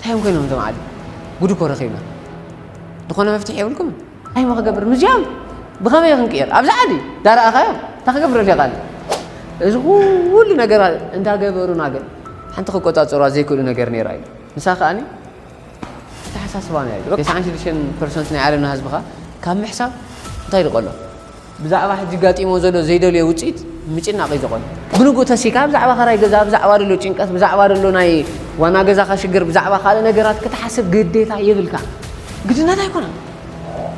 ታዮም ኮይኖም እዞም ዓዲ ጉድ እኮ ረኺብና ዝኾነ መፍትሒ የብልኩም እንታይ ሞ ክገብር ምዚኦም ብኸመይ ክንቅየር ኣብዚ ዓዲ ዳርኣኻዮም እንታይ ክገብር ሪኻ እዚ ኩሉ ነገር እንዳገበሩና ግን ሓንቲ ክቆፃፀሩ ዘይክእሉ ነገር ነይራ እዩ ንሳ ከዓኒ ተሓሳስባ ነያ ተስዓን ሽዱሽተን ፐርሰንት ናይ ዓለምና ህዝብኻ ካብ ምሕሳብ እንታይ ድቀሎ ብዛዕባ ሕጂ ኣጋጢምዎ ዘሎ ዘይደልዮ ውጽኢት ምጭናቕ እዩ ዘቖን። ብንግኡ ተሲእካ ብዛዕባ ከራይ ገዛ፣ ብዛዕባ ደሎ ጭንቀት፣ ብዛዕባ ደሎ ናይ ዋና ገዛኻ ሽግር፣ ብዛዕባ ካልእ ነገራት ክትሓስብ ግዴታ የብልካን። ግድነት ኣይኮነን።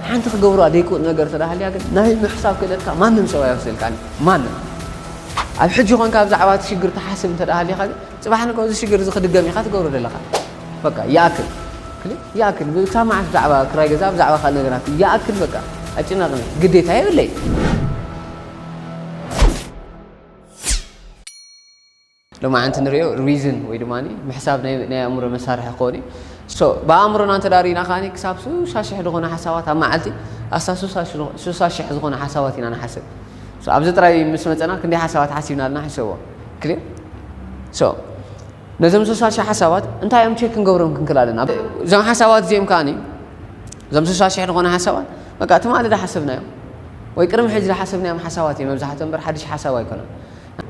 ሓንቲ ክገብርዋ ደይክውጥ ነገር እንተ ሃልያ ግን ናይ ምሕሳብ ክእለትካ ማንም ሰብ ኣይወስደልካን እዩ። ማንም። ኣብ ሕጂ ኮንካ ብዛዕባ እቲ ሽግር ትሓስብ እንተ ሃሊኻ ግን ጽባሕ ንግሆ እዚ ሽግር እዚ ክድገም ኢኻ ትገብሮ ደለኻ። በቃ ይኣክል ክሊክ ይኣክል ብክሳብ መዓስ ብዛዕባ ክራይ ገዛ ብዛዕባ ካልእ ነገራት ይኣክል በቃ ኣጭናቕኒ ግዴታ የብለይ ሎማዓንቲ ንሪኦ ሪዝን ወይ ድማ ምሕሳብ ናይ ኣእምሮ መሳርሒ ክኾን እዩ ብኣእምሮና እንተ ሪኢና ከዓ ክሳብ ሱሳ ሽሕ ዝኾነ ሓሳባት ኣብ መዓልቲ ኣስታ ሱሳ ሽሕ ዝኾነ ሓሳባት ኢና ንሓስብ ኣብዚ ጥራይ ምስ መፀና ክንደይ ሓሳባት ሓሲብና ኣለና ሕሰቦ ክሊር ነዞም ሶሻልሺ ሓሳባት እንታይ እዮም ቼክ ክንገብሮም ክንክል ኣለና እዞም ሓሳባት እዚኦም ከዓኒ እዞም ሶሻልሺ ዝኾነ ሓሳባት በቃ ትማሊ ዝሓሰብናዮም ወይ ቅድሚ ሕጂ ዝሓሰብናዮም ሓሳባት እዮም መብዛሕትኦም እምበር ሓድሽ ሓሳብ ኣይኮነን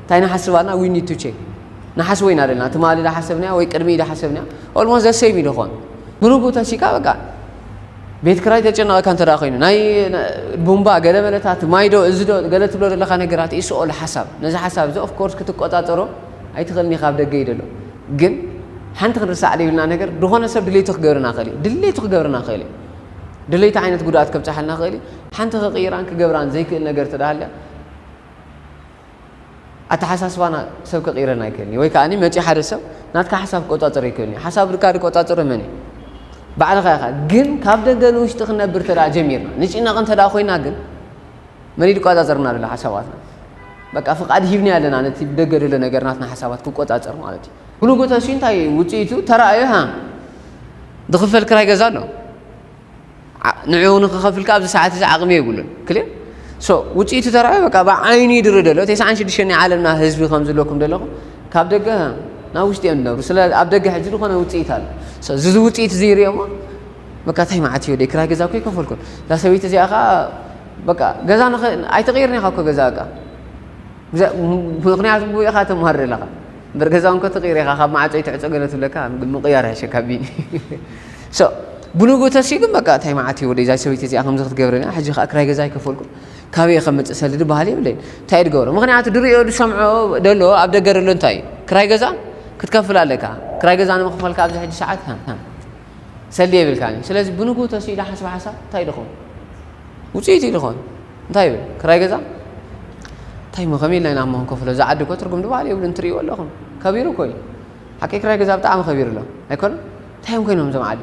እንታይ ንሓስብ ኣለና ዊ ኒድ ቱ ቼክ ንሓስቦ ኢና ዘለና ትማሊ ዝሓሰብናዮ ወይ ቅድሚ ዝሓሰብናዮ ኦልሞስት ዘሰይም እዩ ዝኾን ብንጉ ተሲካ በቃ ቤት ክራይ ተጨነቐካ እንተ ኮይኑ ናይ ቡምባ ገለ መለታት ማይዶ እዚ ዶ ገለ ትብሎ ዘለካ ነገራት ኢስኦል ሓሳብ ነዚ ሓሳብ እዚ ኦፍኮርስ ክትቆፃፀሮ ኣይትኽእልን ኢኻ ኣብ ደገ እዩ ደሎ ግን ሓንቲ ክንርሳዕ ዘይብልና ነገር ዝኾነ ሰብ ድሌቱ ክገብርና ክእል እዩ ድሌቱ ክገብርና ክእል እዩ ድሌቱ ዓይነት ጉድኣት ከብፅሓልና ክእል እዩ ሓንቲ ክቕይራን ክገብራን ዘይክእል ነገር ተዳሃልያ ኣተሓሳስባና ሰብ ክቕይረና ኣይክእልን እዩ ወይ ከዓ መፂ ሓደ ሰብ ናትካ ሓሳብ ክቆፃፀር ይክእል እዩ ሓሳብ ድካ ዝቆፃፀሮ መን እዩ ባዕልኻ ኢኻ ግን ካብ ደገ ንውሽጢ ክነብር ተደኣ ጀሚርና ንጭነቕ እንተደኣ ኮይና ግን መን እዩ ዝቆጻጸርና ዘሎ ሓሳባትና? በቃ ፍቃድ ሂብናዮ ኣለና ነቲ ብደገ ዘሎ ነገር ናትና ሓሳባት ክቆጻጸር ማለት እዩ። ብንጉተሲ እንታይ እዩ ውጽኢቱ ተራእዩ ሃ ዝኽፈል ክራይ ገዛ ኣሎ ዓ ንዕኡ ንኽኸፍል ከኣ ኣብዚ ሰዓት እዚ ዓቕሚ የብሉን ክሊር ሶ ውጽኢቱ ተራእዩ በቃ ብዓይኑ ይድሪ ደሎ ተስዓን ሽዱሽተን ናይ ዓለምና ህዝቢ ከም ዝለኩም ደለኹም ካብ ደገ ሃ ናብ ውሽጢ እዮም ዝነብሩ ስለ ኣብ ደገ ሕጂ ዝኾነ ውጽኢት ኣሎ ሶ እዚ እዚ ውጽኢት እዚ ይርእዮሞ በቃ እንታይ መዓት እዩ ደይ ክራይ ገዛ እኮ ኣይከፈልኩን እዛ ሰበይቲ እዚኣ ከኣ በቃ ገዛ ንኸ ኣይትቕይርን ኢኻ እኮ ገዛ እቃ ምክንያቱ ብኡ ኢኻ ተማርር ኣለኻ እምበር ገዛ እንኮ ትቕይር ኢኻ ካብ ማዕፆ ይትዕፆ ገለ ትብለካ ምቕያር ይሕሸካ ቢኒ ብንግኡ ተስዩ ግን በቃ እንታይ መዓት እዩ ወደ ዛይ ሰበይቲ እዚኣ ከምዚ ክትገብረኒ ሕጂ ከዓ ክራይ ገዛ ኣይከፈልኩም ካበየ ከምፅእ ሰልዲ ባህል የብለይን እንታይ ድገብሮ ምክንያቱ ድሪኦ ዝሰምዖ ደሎ ኣብ ደገ ደሎ እንታይ እዩ ክራይ ገዛ ክትከፍል ኣለካ ክራይ ገዛ ንምክፈልካ ኣብዚ ሕጂ ሰዓት ሰልዲ የብልካን እዩ ስለዚ ብንግኡ ተሲኡ ኢለ ሓስበ ሓሳብ እንታይ ድኸውን ውፅኢት እዩ ድኾን እንታይ ይብል ክራይ ገዛ እንታይ ሞ ከመይ ኢልና ኢና እሞ ክንከፍሎ እዚ ዓዲ እኮ ትርጉም ድበሃል የብሉን ትርእይዎ ኣለኹም ከቢሩ እኮ እዩ ሓቂ ክራይ ገዛ ብጣዕሚ ከቢሩ ኣሎ ኣይኮነ እንታይ እዮም ኮይኖም እዞም ዓዲ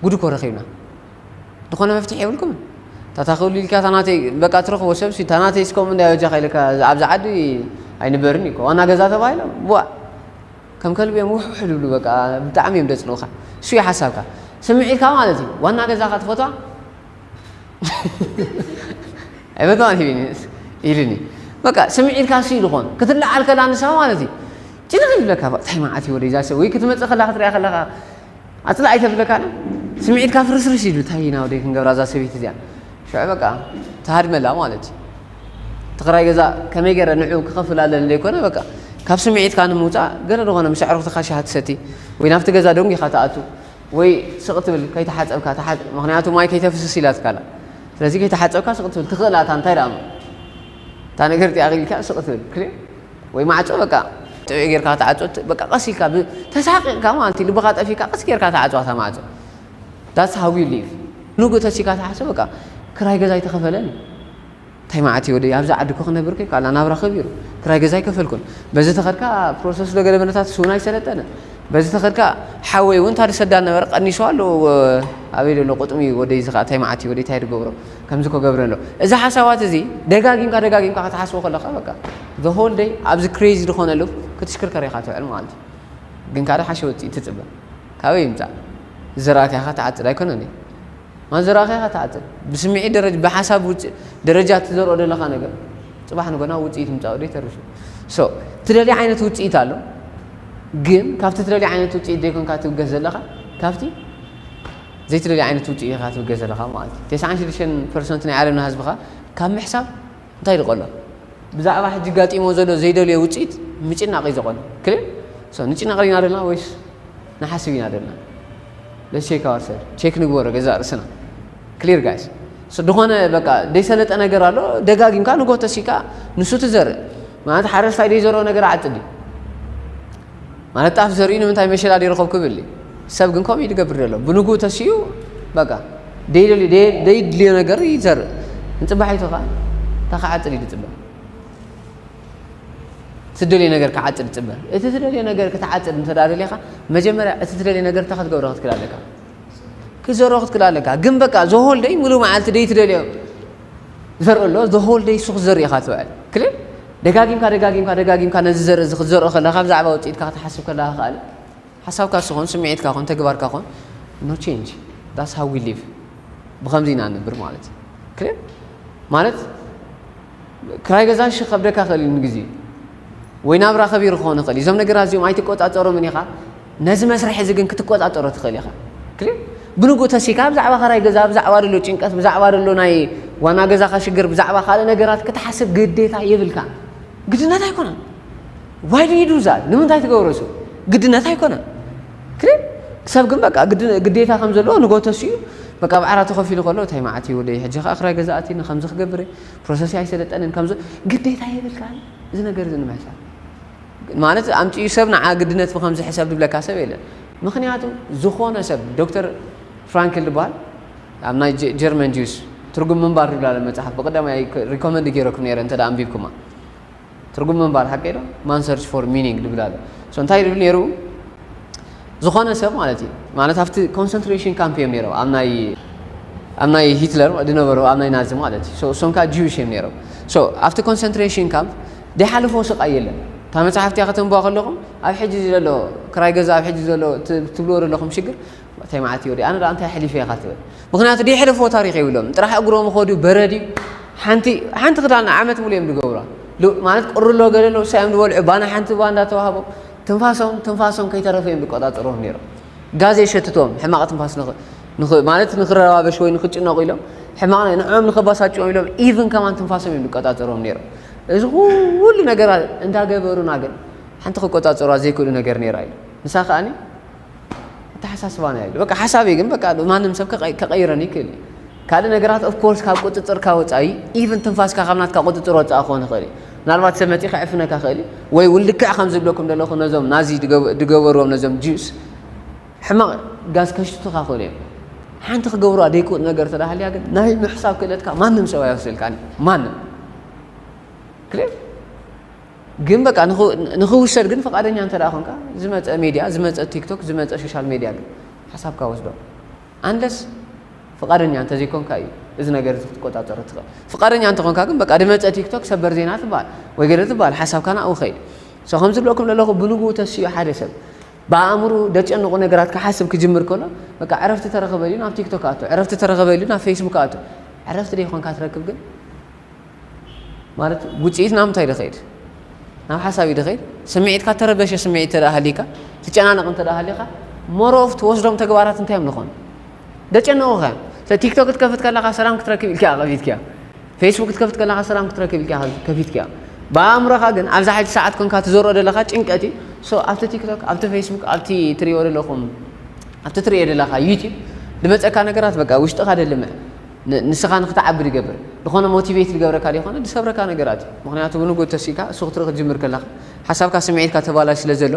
ጉድ እኮ ረኺብና ዝኾነ መፍትሒ የብልኩምን ታታ ክብሉ ኢልካ ታናተይ በቃ ትረኽቦ ሰብ ሲ ታናተይ ስከም እንዳ በጃኻ ኢልካ ኣብዚ ዓዲ ኣይንበርን እዩ ዋና ገዛ ተባሂሎም ቡዋ ከም ከልቢ እዮም ውሕውሕ ዝብሉ በቃ ብጣዕሚ እዮም ደጽልኡካ እሱ እዩ ሓሳብካ ስምዒትካ ማለት እዩ ዋና ገዛካ ትፈትዋ ኣይፈትዋን ሂቢኒ ኢሉኒ በቃ ስምዒትካ እሱ እዩ ዝኾን ክትለዓል ከላ ንሳ ማለት እዩ ጭንቕ ይብለካ ታይ መዓት እዩ ወደይ ዛሰ ወይ ክትመጽእ ከላ ክትሪኣ ከለካ ኣፅልእ ኣይተብለካን ስምዒትካ ፍርስርስ ኢሉ ታይ ኢና ወደይ ክንገብራ እዛ ሰበይቲ እዚኣ ሽዑ በቃ ትሃድመላ ማለት እዩ እቲ ክራይ ገዛ ከመይ ገረ ንዑ ክኸፍል ኣለኒ ዘይኮነ በቃ ካብ ስምዒትካ ንምውፃእ ገለ ዝኾነ ምስ ኣዕሩኽትኻ ሻሂ ትሰቲ ወይ ናብቲ ገዛ ደንጊኻ ትኣቱ ወይ ስቕ ትብል ከይተሓፀብካ ምክንያቱ ማይ ከይተፍስስ ኢላትካ ኣላ ስለዚ ከይተሓፀብካ ስቕ ትብል ትኽእል ኣታ እንታይ ደኣ እታ ነገር እቲኣ ኣኺልካ ስቕ ትብል ወይ ማዕጾ በቃ ጥዑይ ጌርካ ክትዓጾ በቃ ቀስ ኢልካ ብ ተሳቂቅካ ማለት ልብካ ጠፊካ ቀስ ጌርካ ትዓጽዋ እታ ማዕጾ that's how you live ንግሆ ተሲካ ትሓስብ በቃ ክራይ ገዛ ኣይተኸፈለን እንታይ መዓት ወደይ ኣብዛ ዓዲ እኮ ክነብር ከይኩ ኣላ ናብራ ከቢሩ ክራይ ገዛ ኣይከፈልኩን በዚ ተኸድካ ፕሮሰስ ዶ ገደበ ነታት ስውን ኣይሰለጠነ በዚ ተኸድካ ሓወይ እውን ታደሰዳ ነበረ ቀኒሱ ኣሎ ኣበይ ዘሎ ቁጥሚ ወደይ እዚ ከዓ እንታይ መዓት ወደይ እንታይ ድገብሮ ከምዚ ክገብር ኣለዎ እዚ ሓሳባት እዚ ደጋጊምካ ደጋጊምካ ክትሓስቦ ከለካ በቃ the whole day ኣብዚ crazy ዝኾነ loop ክትሽክርከር ኢኻ ትውዕል ማለት እዩ ግን ካደ ሓሸ ውፅኢት ትፅበ ካበይ ይምፃእ ዝዘራእካኻ ትዓፅድ ኣይኮነን እዩ ማለት ዝዘራእካኻ ትዓፅድ ብስምዒት ደረጃ ብሓሳብ ውፅእ ደረጃ ትዘርኦ ዘለኻ ነገር ፅባሕ ንጎና ውፅኢት ምፃኡ ዶ ይተርፍ እዩ ሶ ትደልዮ ዓይነት ውፅኢት ኣሎ ግን ካብቲ ትደልዮ ዓይነት ውፅኢት ዘይኮንካ ትብገስ ዘለኻ ካብቲ ዘይትደልዮ ዓይነት ውጽኢ ኢኻ ትብገስ ዘለኻ ማለት እዩ። ተስዓን ሽዱሽተን ፐርሰንት ናይ ዓለምና ህዝቢ ከኣ ካብ ምሕሳብ እንታይ ድዩ ቀሎ? ብዛዕባ ሕጂ ኣጋጢምዎ ዘሎ ዘይደልዮ ውጽኢት ምጭናቕ እዩ ዘቐሎ። ክሊር? ሶ ንጭነቕ ዲና ደለና ወይስ ንሓስብ ኢና ደለና? ለትስ ቼክ ኣወር ሰልፍ፣ ቼክ ንግበሮ ገዛእ ርእስና። ክሊር ጋይስ? ሶ ድኾነ በቃ ዘይሰለጠ ነገር ኣሎ ደጋጊምካ ንጎቶ እስኪ ከኣ ንሱ ትዘርእ። ማለት ሓረስታይ ዘይዘርኦ ነገር ይዓጽድ ድዩ ማለት ጣፍ ዘሪኡ ንምንታይ መሸላ ዘይረኸብ ክብል እዩ ሰብ ግን ከምኡ ይገብር ዘሎ ብንግኡ ተሲኡ በቃ ደይድልዮ ነገር ይዘርእ ንፅባሒቱ ከዓ እታ ክዓፅድ እዩ ዝፅበ ትደልዮ ነገር ክዓፅድ ፅበ እቲ ትደልዮ ነገር ክትዓፅድ እንተዳደልኻ መጀመርያ እቲ ትደልዮ ነገር እታ ክትገብረ ክትክል ኣለካ ክዘሮ ክትክል ኣለካ ግን በቃ ዘሆልደይ ሙሉእ መዓልቲ ደይትደልዮ ዘርኢ ኣሎ the whole day ንሱ ክትዘሪ ኢኻ ትውዕል ክል ደጋጊምካ ደጋጊምካ ደጋጊምካ ነዚ ዘርኢ እዚ ክትዘርኦ ከለካ ብዛዕባ ውፅኢትካ ክትሓስብ ከለካ ከኣል ሓሳብካ ስኾን ስምዒትካ ኮን ተግባርካ ኮን ኖ ቼንጅ ዳስ ሃው ዊ ሊቭ ብከምዚ ኢና ንብር ማለት እዩ ክል ማለት ክራይ ገዛ ሽ ከብደካ ክእል እዩ ንግዜ ወይ ናብራ ከቢሩ ክኾን ይኽእል እዩ እዞም ነገራት እዚኦም ኣይትቆፃፀሮምን ኢኻ ነዚ መስርሕ እዚ ግን ክትቆጻጸሮ ትኽእል ኢኻ። ክሊር ብንግኡ ተሲካ ብዛዕባ ከራይ ገዛ ብዛዕባ ደሎ ጭንቀት ብዛዕባ ደሎ ናይ ዋና ገዛኻ ሽግር ብዛዕባ ካልእ ነገራት ክትሓስብ ግዴታ የብልካን። ግድነት ኣይኮነን። ዋይ ዱ ዩ ዱ ዛት ንምንታይ ትገብሮ እሱ ግድነት ኣይኮነን። ክሊር ሰብ ግን በቃ ግዴታ ከም ዘለዎ ንግሆ ተሲኡ በቃ ብዓራት ተኸፊሉ ከሎ እንታይ መዓት እዩ ወደይ ሕጂ ከኣ ክራይ ገዛ ኣትኒ ከምዚ ክገብር እየ ፕሮሰሰይ ኣይሰለጠንን ከምዚ ግዴታ የብልካን እዚ ነገር እዚ ንምሕሳብ ማለት ኣምጺኡ ሰብ ንዓ ግድነት ብከምዚ ሕሰብ ድብለካ ሰብ የለን ምክንያቱ ዝኮነ ሰብ ዶክተር ፍራንክል ድባሃል ኣብ ናይ ጀርመን ጁስ ትርጉም ምንባር ድብላ ኣለ መጽሓፍ ብቀዳማይ ሪኮመንድ ገይረኩም ነይረ እንተ ኣንቢብኩማ ትርጉም ምንባር ሓቀይ ዶ ማን ሰርች ፎር ሚኒንግ ድብል ኣሎ ሶ እንታይ ድብል ነይሩ ዝኾነ ሰብ ማለት እዩ ማለት ኣብቲ ኮንሰንትሬሽን ካምፕ እዮም ነይሮም ኣብ ናይ ኣብ ናይ ሂትለር ዝነበሩ ኣብ ናይ ናዚ ማለት እዩ እሶም ከዓ ጂዊሽ እዮም ነይሮም ኣብቲ ኮንሰንትሬሽን ካምፕ ዘይሓለፎ ስቃይ የለን እታ መጽሓፍ እቲኣ ከተንብዋ ከለኹም ኣብ ሕጂ ዘሎ ክራይ ገዛ ኣብ ሕጂ ዘሎ ትብልዎ ዘለኹም ሽግር እንታይ መዓት እዩ ኣነ ደኣ እንታይ ኣሕሊፈ ኢኻ ትብል ምክንያቱ ደይሕለፍዎ ታሪኽ የብሎም ጥራሕ እግሮም ኸዱ በረድ እዩ ሓንቲ ሓንቲ ክዳን ዓመት ሙሉ እዮም ዝገብሯ ማለት ቁርሎ ገለ ኣለዉ ሳዮም ዝበልዑ ባና ሓንቲ እባ እንዳተዋህቦም ትንፋሶም ትንፋሶም ከይተረፈ እዮም ዝቆጣጠርዎም ነይሮም ጋዜ ሸትቶም ሕማቕ ትንፋስ ማለት ንክረባበሽ ወይ ንክጭነቑ ኢሎም ሕማቕ ንዕኦም ንከባሳጭዎም ኢሎም ኢቭን ከማን ትንፋሶም እዮም ዝቆጣጠርዎም ነይሮም እዚ ኩሉ ነገር እንዳ ገበሩና ግን ሓንቲ ክቆጻጸሩዋ ዘይክእሉ ነገር ነይራ ኢሉ። ንሳ ከኣኒ ኣተሓሳስባና ኢሉ። በቃ ሓሳበይ ግን በቃ ማንም ሰብ ከቐይረኒ ይክእል እዩ። ካልእ ነገራት ኦፍ ኮርስ ካብ ቁጽጽርካ ወጻኢ ኢቭን ትንፋስካ ካብ ናትካ ቁጽጽር ወጻኢ ክኾን ይኽእል እዩ። ምናልባት ሰብ መጺ ክዕፍነካ ክእል ወይ ልክዕ ከም ዝብለኩም ዘለኹ ነዞም ናዚ ድገበርዎም ነዞም ጁስ ሕማቕ ጋዝ ከሽትቱኻ ክእሉ እዮም። ሓንቲ ክገብሩዋ ዘይክእሉ ነገር እንተ ሃልያ ግን ናይ ምሕሳብ ክእለትካ ማንም ሰብ ኣይወስደልካን እዩ። ማንም ክሊር ግን በቃ ንኽውሰድ ግን ፈቃደኛ እንተ ኮንካ ዝመፀ ሚድያ ዝመፀ ቲክቶክ ዝመፀ ሶሻል ሚድያ ግን ሓሳብካ ወስዶ ኣንለስ ፍቃደኛ እንተዘይኮንካ እዩ እዚ ነገር እዚ ክትቆፃፀሮ ትኽእል ፍቃደኛ እንተኾንካ ግን በቃ ድመፀ ቲክቶክ ሰበር ዜና ትበሃል ወይ ገለ ትበሃል ሓሳብካ ናብኡ ኸይድ ሰ ከምዝብለኩም ዘለኹ ብንግኡ ተሲኡ ሓደ ሰብ ብኣእምርኡ ደጨንቑ ነገራት ክሓስብ ክጅምር ከሎ በቃ ዕረፍቲ ተረኽበ ኢሉ ናብ ቲክቶክ ኣቱ፣ ዕረፍቲ ተረኽበ ኢሉ ናብ ፌስቡክ ኣቱ። ዕረፍቲ ደይኮንካ ትረክብ ግን ማለት ውጽኢት ናብ ምንታይ ደኸይድ ናብ ሓሳብ እዩ ደኸይድ። ስምዒትካ ተረበሸ ስምዒት እንተ ሃሊካ ትጨናነቕ እንተ ሃሊኻ ሞሮፍ ትወስዶም ተግባራት እንታይ እዮም ዝኾኑ ደጨንቑኻ እዮም። ቲክቶክ ክትከፍት ከለኻ ሰላም ክትረክብ ኢልካ ከፊትካዮ ፌስቡክ ክትከፍት ከለኻ ሰላም ክትረክብ ኢልካ ኢኻ ከፊትካዮ ብኣእምሮኻ ግን ኣብዛ ሓንቲ ሰዓት ኮንካ ትዘርኦ ዘለኻ ጭንቀት እዩ ሶ ኣብቲ ቲክቶክ ኣብቲ ፌስቡክ ኣብቲ ትሪኦ ዘለኹም ኣብቲ ትሪኦ ዘለኻ ዩቲብ ድመፀካ ነገራት በቃ ውሽጥኻ ደልምዕ ንስኻ ንክትዓቢ ድገብር ዝኾነ ሞቲቬት ድገብረካ ዘይኮነ ድሰብረካ ነገራት እዩ ምክንያቱ ብንጉ ተሲእካ እሱ ክትርኢ ክትጅምር ከለኻ ሓሳብካ ስምዒትካ ተባላሽ ስለ ዘሎ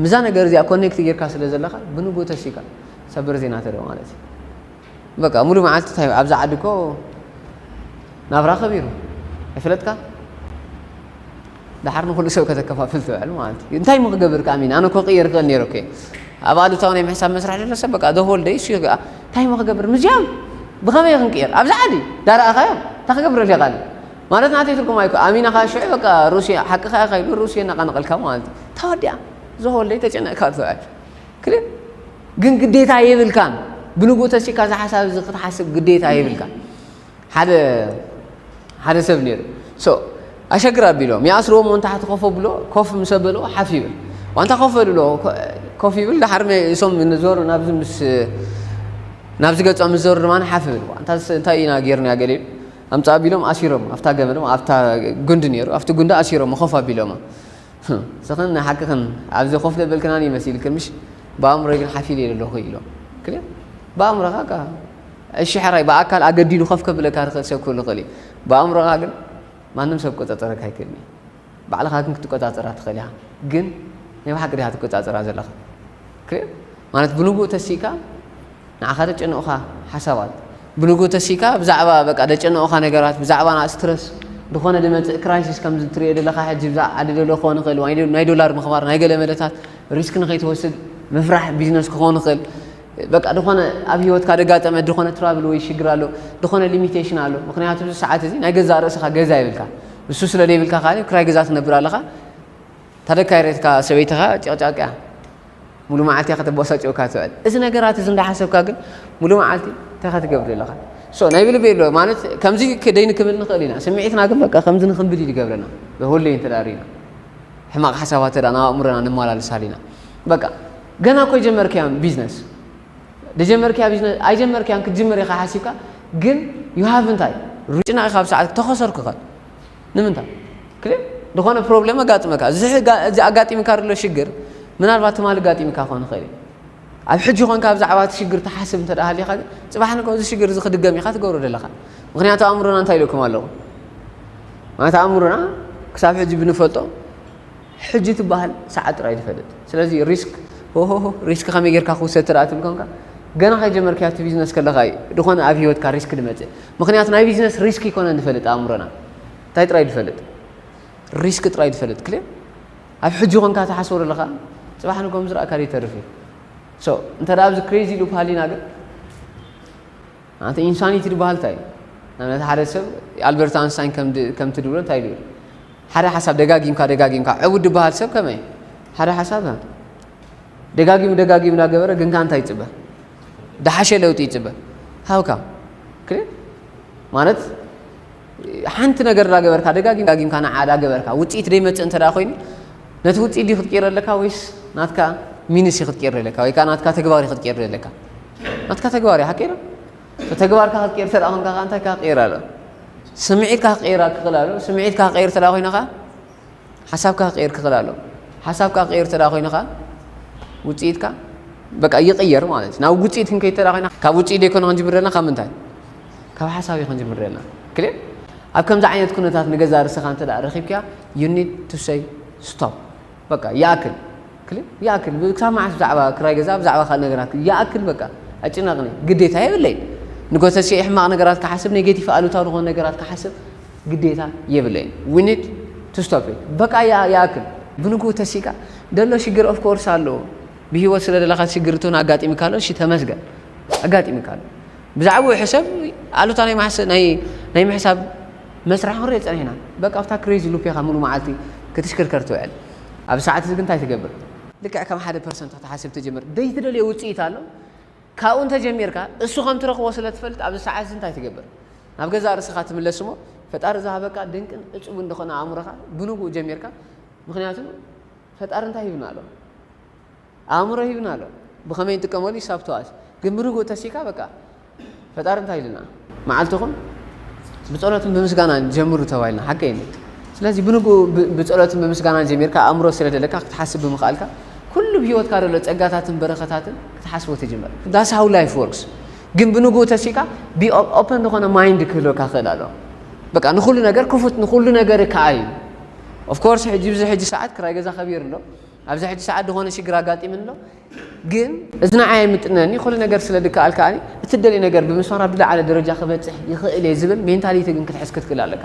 ምዛ ነገር እዚኣ ኮኔክት ጌርካ ስለ ዘለኻ ብንጉ ተሲእካ ሰበር ዜና ተርኢ ማለት እዩ በቃ ሙሉ መዓልቲ እንታይ ኣብዚ ዓዲ እኮ ናብራ ከቢሩ ኣይፈለጥካ ድሓር ንኩሉ ሰብ ከተከፋፍል ትውዕል ማለት እዩ እንታይ ምክገብር ከ ኣሚን ኣነ እኮ ቅየር ክእል ነይረ እኮ ኣብ ኣሉታዊ ናይ ምሕሳብ መስርሕ ዘሎ ሰብ በቃ ደሆል ደይ እሱ ይግኣ እንታይ ምክገብር ምዚያም ብኸመይ ክንቅየር ኣብዚ ዓዲ ዳርኣኻዮ እንታ ክገብረሉ ይቃል ማለት ናተይ ትርጉም ኣይኮ ኣሚና ከዓ ሽዑ በቃ ሩስያ ሓቂ ከያ ከይሉ ሩስያ እናቐነቐልካ ማለት እዩ ተወዲኣ ዝሆለይ ተጨነቕካ ትውዕል ክልል ግን ግዴታ የብልካን ብልቡ ተሲካ እዚ ሓሳብ እዚ ክትሓስብ ግዴታ የብልካን ሓደ ሓደ ሰብ ነይሩ ኣሸግር ኣቢሎም ይኣስርዎ ሞ እንታሕቲ ኮፍ ኣብሎ ኮፍ ምስ ኣበልዎ ሓፍ ይብል ዋንታ ኮፍ በልሎ ኮፍ ይብል ዳሓር እሶም ንዞሩ ናብዚ ምስ ናብዚ ገጾም ምስ ዘሩ ድማ ሓፍ ይብል እንታይ ኢና ጌርና ገለ ኢሉ ኣምፃ ኣቢሎም ኣሲሮም ኣብታ ገመድ ኣብታ ጉንዲ ነይሩ ኣብቲ ጉንዲ ኣሲሮም ኮፍ ኣቢሎሞ ንስኽን ንሓቅኽን ኣብዚ ኮፍ ዘበልክናኒ መሲልክን ምሽ ብኣእምሮይ ግን ሓፍ ኢለ ኣለኹ ኢሎ ክል ብኣእምሮኻ ካ እሺ ሕራይ ብኣካል ኣገዲዱ ኮፍ ከብለካ ዝኽእል ሰብ ክህሉ ይኽእል እዩ ብኣእምሮኻ ግን ማንም ሰብ ክቆጻጸረካ ኣይክእልን እዩ ባዕልኻ ግን ክትቆጻጸራ ትኽእል ኢኻ ግን ናይ ብሓቂ ዲኻ ትቆጻጸራ ዘለኻ ክል ማለት ብንጉእ ተሲእካ ንዓኻ ዘጨንቑኻ ሓሳባት ብንግኡ ተሲእካ ብዛዕባ በቃ ዘጨንቑኻ ነገራት ብዛዕባ ስትረስ ዝኾነ ዝመጽእ ክራይሲስ ከምዚ እትርእዮ ዘለኻ ሕጂ ብዛዕባ ዓዲ ዘሎ ክኾን ይኽእል ወይ ናይ ዶላር ምኽባር ናይ ገለ መለታት ሪስክ ንኸይትወስድ ምፍራሕ ቢዝነስ ክኾን ይኽእል በቃ ዝኾነ ኣብ ህይወትካ ዘጋጠመ ዝኾነ ትራብል ወይ ሽግር ኣሎ ዝኾነ ሊሚቴሽን ኣሎ ምክንያቱ እዚ ሰዓት እዚ ናይ ገዛእ ርእስኻ ገዛ ይብልካ ንሱ ስለ ዘይብልካ ካዓ ክራይ ገዛ ትነብር ኣለኻ ታደካይ ሬትካ ሰበይትኻ ጭቕጫቅ እያ ሙሉ መዓልቲ ከተበሳጭወካ ትውዕል እዚ ነገራት እዚ እንዳሓሰብካ ግን ሙሉ መዓልቲ እንታይ ከትገብር ኣለኻ ሶ ናይ ብልቢ ኣሎ ማለት ከምዚ ክደይ ንክብል ንኽእል ኢና ስምዒትና ግን በቃ ከምዚ ንክንብል እዩ ዝገብረና በሁለይ እንተዳሪና ሕማቕ ሓሳባት ተዳ ናብ ኣእምሮና ንመላለሳል ኢና በቃ ገና እኮ ጀመርክያም ቢዝነስ ደጀመርክያ ቢዝነስ ኣይጀመርክያን ክትጅምር ኢኻ ሓሲብካ ግን ዩ ሃቭ እንታይ ሩጭና ኢኻ ኣብ ሰዓት ተኸሰርኩኸ ንምንታ ክል ዝኾነ ፕሮብሌም ኣጋጥመካ እዚ ኣጋጢምካ ዘሎ ሽግር ምናልባት ትማሊ ኣጋጢምካ ክኾን ይኽእል እዩ ኣብ ሕጂ ኮንካ ብዛዕባ እቲ ሽግር ትሓስብ እንተ ሃሊኻ ግን ፅባሕ ንከ እዚ ሽግር እዚ ክድገም ኢኻ ትገብሮ ዘለኻ ምክንያቱ ኣእምሮና እንታይ ኢለኩም ኣለኹ ማለት ኣእምሮና ክሳብ ሕጂ ብንፈልጦ ሕጂ ትበሃል ሰዓት ጥራይ ትፈልጥ ስለዚ ሪስክ ሆሆሆ ሪስክ ከመይ ጌርካ ክውሰድ ተደኣ ትብል ኮንካ ገና ከይጀመርካዮ ኣብቲ ቢዝነስ ከለኻ እዩ ዝኾነ ኣብ ሂወትካ ሪስክ ዝመጽእ ምኽንያቱ ናይ ቢዝነስ ሪስክ ኣይኮነን ዝፈልጥ ኣእምሮና እንታይ ጥራይ ዝፈልጥ ሪስክ ጥራይ ዝፈልጥ ክልእ ኣብ ሕጂ ኮንካ ትሓስቦ ዘለኻ ጽባሕ ንጎም ዝረኣካ ይተርፍ እዩ ሶ እንተ ኣብዚ ክሬዚ ሉፕ ሃሊና ግን ኣንተ ኢንሳኒቲ ድበሃል እንታይ እዩ? ንኣብነት ሓደ ሰብ ኣልበርት ኣንስታይን ከምቲ ድብሎ እንታይ ኢሉ እዩ? ሓደ ሓሳብ ደጋጊምካ ደጋጊምካ ዕቡድ ድበሃል ሰብ ከመይ እዩ? ሓደ ሓሳብ ደጋጊሙ ደጋጊሙ እናገበረ ግን ከ እንታይ ይጽበ? ደሓሸ ለውጢ ይጽበ ሃውካ ማለት ሓንቲ ነገር ዳገበርካ ደጋጊም ዳጊምካ ንዓ ዳገበርካ ውጽኢት ደይመጽእ እንተ ኮይኑ ነቲ ውጽኢት ድዩ ክትቅይሮ ኣለካ ወይስ ናትካ ሚንስ እዩ ክትቅይሮ ኣለካ ወይ ከዓ ናትካ ተግባር እዩ ክትቅይሮ ኣለካ ናትካ ተግባር እዩ ሓቂዶ ተግባርካ ክትቅይር ተደኣ ኮንካ ከዓ እንታይ ክቅይር ኣሎ ስምዒትካ ክቅይር ክኽእል ኣሎ ስምዒትካ ክቅይር ተደኣ ኮይንኻ ሓሳብካ ክቅይር ክክእል ኣለዎ ሓሳብካ ክቅይር እንተ ኮይኑ ከኣ ውጽኢትካ በቃ ይቅየር ማለት እዩ ናብ ውጽኢት ክንከይድ እንተ ኮይና ካብ ውጽኢት ዘይኮነ ክንጅምር ዘለና ካብ ምንታይ ካብ ሓሳብ እዩ ክንጅምር ዘለና ክልል ኣብ ከምዚ ዓይነት ኩነታት ንገዛ ርስኻ እንተ ረኺብክያ ዩ ኒድ ቱ ሰይ ስቶፕ በቃ ይኣክል ክል ይኣክል ክሳብ መዓስ ብዛዕባ ክራይ ገዛ ብዛዕባ ካልእ ነገራት ይኣክል በቃ ኣጭናቕኒ ግዴታ የብለይን ንጎተስየይ ሕማቕ ነገራት ክሓስብ ኔጌቲፍ ኣሉታዊ ዝኾኑ ነገራት ክሓስብ ግዴታ የብለይን we need to stop it በቃ ይኣክል ብንግኡ ተሲእካ ደሎ ሽግር of course ኣሎ ብሂወት ስለ ደለኻ ሽግር እትውን ኣጋጢምካ ኣሎ እሺ ተመስገን ኣጋጢምካ ኣሎ ብዛዕባኡ ሕሰብ ኣሉታ ናይ ማሕሰ ናይ ናይ ምሕሳብ መስርሕ ክንሪኦ ጸኒሕና በቃ ኣብታ ክሬዚ ሉፕ ኢኻ ሙሉ መዓልቲ ክትሽክርከር ትውዕል ኣብዚ ሰዓት እዚ ግን እንታይ ትገብር? ልክዕ ከም ሓደ ፐርሰንት ክትሓስብ ትጅምር። ዘይትደልዮ ውጽኢት ኣሎ፣ ካብኡ እንተ ጀሚርካ እሱ ከም ትረኽቦ ስለ ትፈልጥ ኣብዚ ሰዓት እዚ እንታይ ትገብር? ናብ ገዛእ ርእስኻ ትምለስ እሞ ፈጣሪ ዝሃበካ ድንቅን እጹብን ዝኾነ ኣእምሮኻ ብንጉኡ ጀሚርካ ምኽንያቱ ፈጣሪ እንታይ ሂብና ኣሎ? ኣእምሮ ሂብና ኣሎ ብከመይ ንጥቀመሉ ሂሳብ ተዋት ግን ብርግኡ ተሲካ በቃ ፈጣሪ እንታይ ኢሉና መዓልትኩም ብጸሎትን ብምስጋናን ጀምሩ ተባሂልና ሓቀይ እዩ ስለዚ ብንግኡ ብጸሎትን ብምስጋናን ጀሚርካ ኣእምሮ ስለ ደለካ ክትሓስብ ብምኽኣልካ ኩሉ ብሂወትካ ደሎ ጸጋታትን በረኸታትን ክትሓስቦ ትጅምር ዳስ ሃው ላይፍ ወርክስ ግን ብንግኡ ተሲካ ቢ ኦፐን ዝኾነ ማይንድ ክህልወካ ክእል ኣሎ በቃ ንኩሉ ነገር ክፉት ንኩሉ ነገር ከኣ እዩ ኦፍኮርስ ሕጂ ብዚ ሕጂ ሰዓት ክራይ ገዛ ከቢሩ ኣሎ ኣብዚ ሕጂ ሰዓት ድኾነ ሽግር ኣጋጢምኒ ኣሎ ግን እዚ ንዓይ ኣይምጥነን እዩ ኩሉ ነገር ስለ ድከኣል ከኣ እቲ ትደልዮ ነገር ብምስፋር ኣብ ዝለዓለ ደረጃ ክበጽሕ ይኽእል እየ ዝብል ሜንታሊቲ ግን ክትሕዝ ክትክእል ኣለካ።